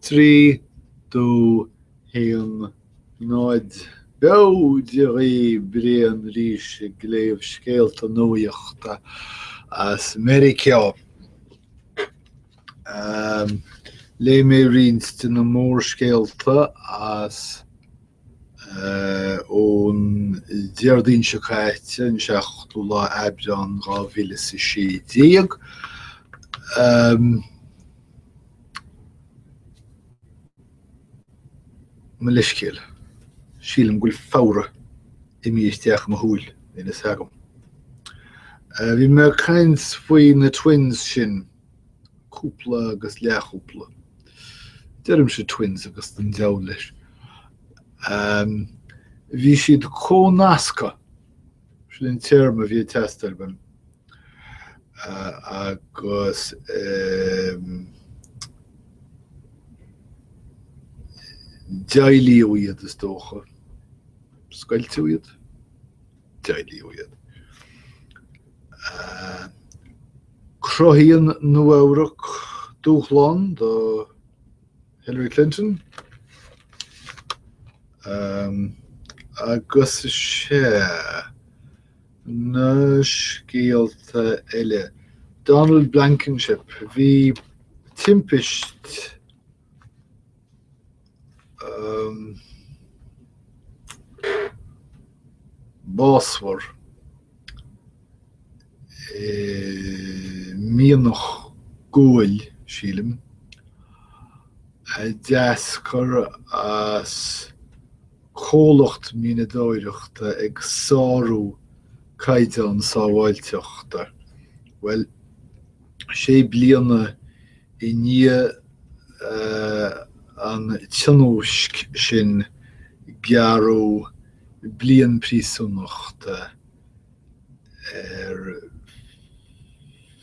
3-2-1-0 B'fhéidir í Brian arís ag léamh scéalta nuachta as Meiriceá. Léigh mé roinnt de na mórscéalta as. ón Déardaoin seo caite, an seachtú lá Aibreán dhá mhíle is a sé déag. Mo leithscéal, sílim go bhfuil fabhra imithe isteach i mo shúil níl a fhios agam. Bhí mé ag caint faoi na Twins sin cúpla agus leathchúpla. Deirimse twins agus don deabhal leis. Bhí siad comhnasctha, sin an téarma a bhí ag teastáil uaim, agus deighleadh iad, is dócha, scoilteadh iad. deighleadh iad. Cruthaíonn Nua-Eabhrac dúshlán do Hillary Clinton agus sea, na scéalta eile. Donald Blankenship, bhí timpist básmhar i mianach guail, sílim, a d'eascair as comhlacht mianadóireachta ag sárú caighdeán sábháilteachta. Bhuel, sé bliana I ndiaidh an tionóisc sin gearradh bliain príosúnachta ar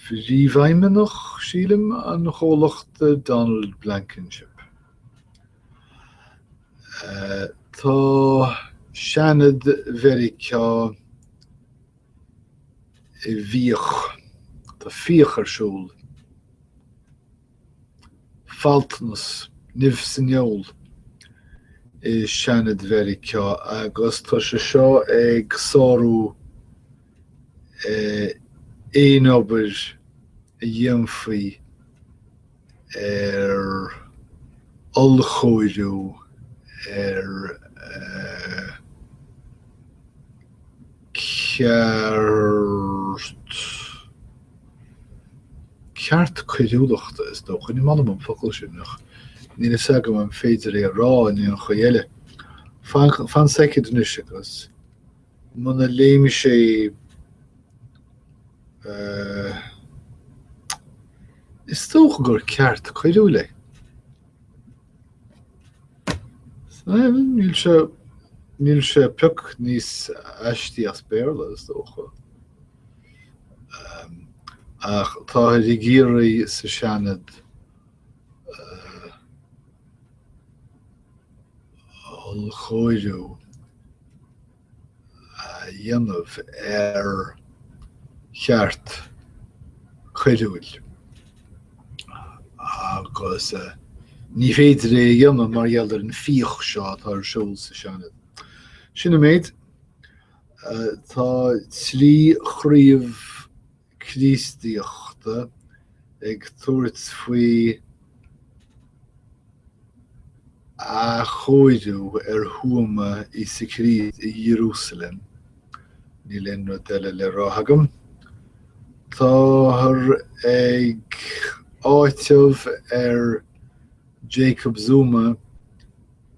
phríomhfheidhmeannach, sílim, an chomhlachta, Donald Blankenship. Tá Seanad Mheiriceá. i bhfíoch, tá fíoch ar siúl. faltanas, nimh san fheoil i Seanad Mheiriceá agus tá sé seo ag sárú aon obair a dhéanfaí, ar ollchóiriú, ar cheart, ceart coiriúlachta, is dócha. Ní maith liom an focal sin ach níl fhios agam an féidir é a rá in aon chaoi eile. Fan seicead anois agus. Muna, léim sé is dócha gur ceart coiriúil é. Níl sé pioc níos aistí as Béarla, is dócha. Ach táthar ag éirí sa Seanad ollchóiriú a dhéanamh ar cheart coiriúil agus ní féidir é a dhéanamh mar gheall ar an fíoch seo atá ar siúl sa Seanad. Sin an méid tá trí chraobh Críostaíochta ag tabhairt faoi athchóiriú ar thuama Íosa Críost in Iarúsailéim. Níl aon rud eile le rá agam. Táthar ag áiteamh ar Jacob Zuma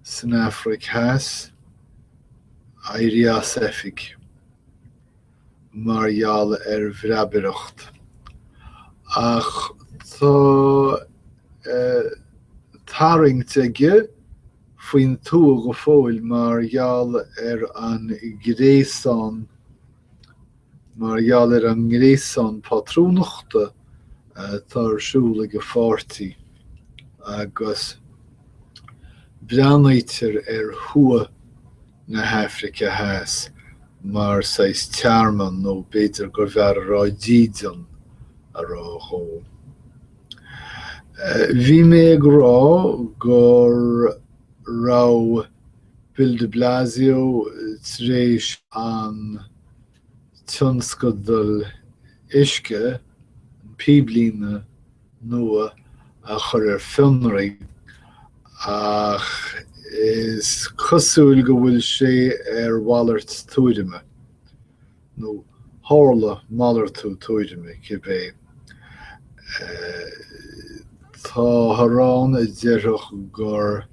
san Afraic Theas éirí as oifig. mar gheall ar bhreabaireacht, ach tá tarraingt aige faoin tuath go fóill mar gheall ar an gréasán mar gheall ar an ngréasán pátrúnachta atá ar siúl ag a pháirtí agus breathnaítear ar thuath na hAfraice Theas mar saghas tearmann, nó b'fhéidir gurbh fhearr a rá dídean a rá leo. Bhí mé ag rá go raibh Bill de Blasio tar éis an tionscadal uisce an píblíne nua a chur ar fionraí ach is cosúil go bhfuil sé ar mhalairt tuairime, nó tharla malartú tuairime, cibé. Tá daoine ann a déarfadh gur.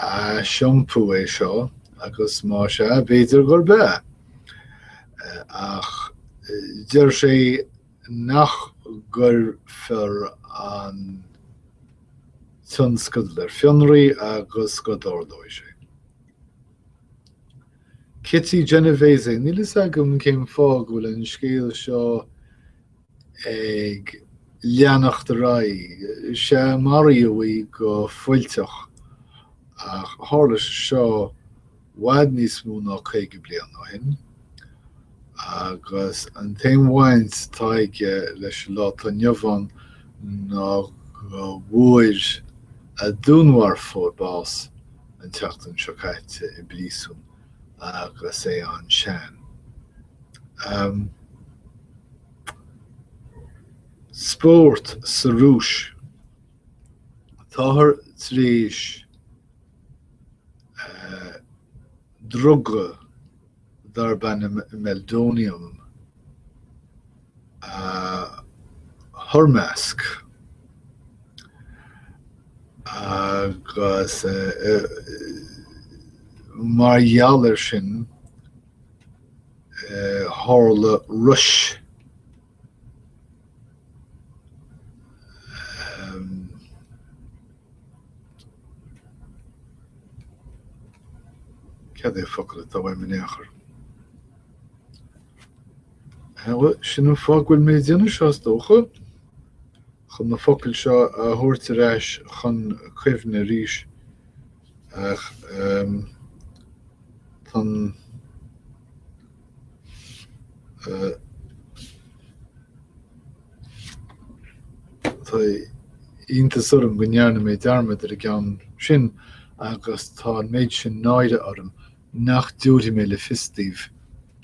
aisiompú é seo, agus más ea, b'fhéidir gurb ea. Ach deir sé nach gcuirfear an tionscadal ar fionraí agus go dtarlóidh sé. Kitty Genovese, níl a fhios agam cén fáth go bhfuil an scéal seo ag leanacht ar aghaidh. Sea, maraíodh í go fuilteach, ach tharla sé seo i bhfad níos mó ná caoga bliain ó shin, agus an t-aon bhaint atá aige leis an lá atá inniu ann ná go bhfuair a dúnmharfóir bás an tseachtain seo caite i bpríosún agus é an-sean. spórt sa Rúis. Táthar tar éis druga darb ainm meldonium a thoirmeasc agus mar gheall air sin, tharla rois cad é focal atá uaim in aon chor? sin an fáth go bhfuil mé ag déanamh seo is dócha chun na focail seo a thabhairt ar ais chun cuimhne arís. Ach tá an tá iontas orm go ndearna mé dearmad ar an gceann sin agus tá an méid sin náire orm nach dtabharfaidh mé le fios daoibh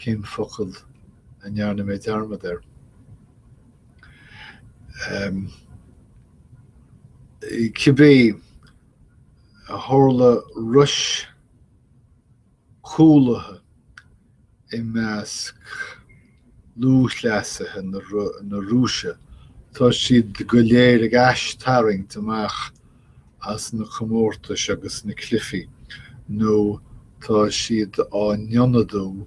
cén focal a ndearna mé dearmad air. Cibé. tharla rois chúlaithe i measc lúthchleasaithe na Rúise, tá siad go léir ag aistarraingt amach as na comórtais agus na cluichí nó tá siad á n-ionadú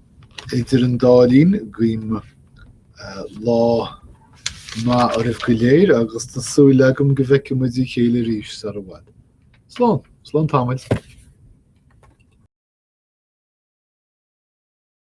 Idir an dá linn, guím lá maith oraibh go léir agus tá súil agam go bhfeicfidh muid a chéile arís sar i bhfad. Slán! Slán tamaill!